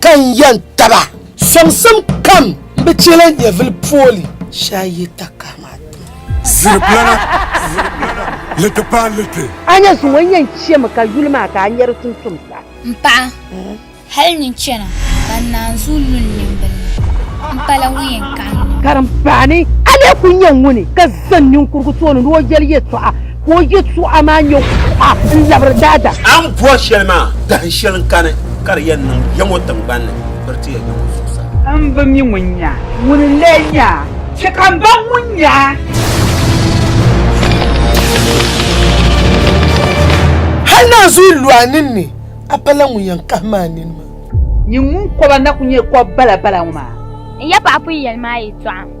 ka n yɛn taba. Sɔŋsim kam n bi chɛ la nyɛvili pooli shee a yi ta kahi ma ti. Ziriplana, liti paai liti. A nya zuŋɔ n yɛn chɛmi ka yuli maa ka a nya di tumtum sa. M paɣa, hal nyin chana ka n naanzuu lu n nimbila ni, m pala ŋun yɛn kahi n nini. Karimbaani, a lee kul nya ŋuni ka zani ninkurugu tooni ni o yɛli yɛtɔɣa? Ka o yɛtɔɣa maa nyɛ kuɣa n-labiri daadam. A ni bɔri shɛli maa, dahin shɛli n-kani ka di yɛn niŋ ya ŋɔ tiŋgbani ni, biri ti ya ya ŋɔ zuɣusaa. M bi mi ŋun nya, ŋuni n-lee nya a? Chɛ ka m baŋ ŋun nya a. Hal naanzuhi lu a ninni, a pala ŋun yɛn kahim a nini maa. Nyin ŋun kɔba na kul nyɛ kɔb balabala ŋɔ maa. N yɛpaɣ pun yɛli ma a yɛtɔɣa.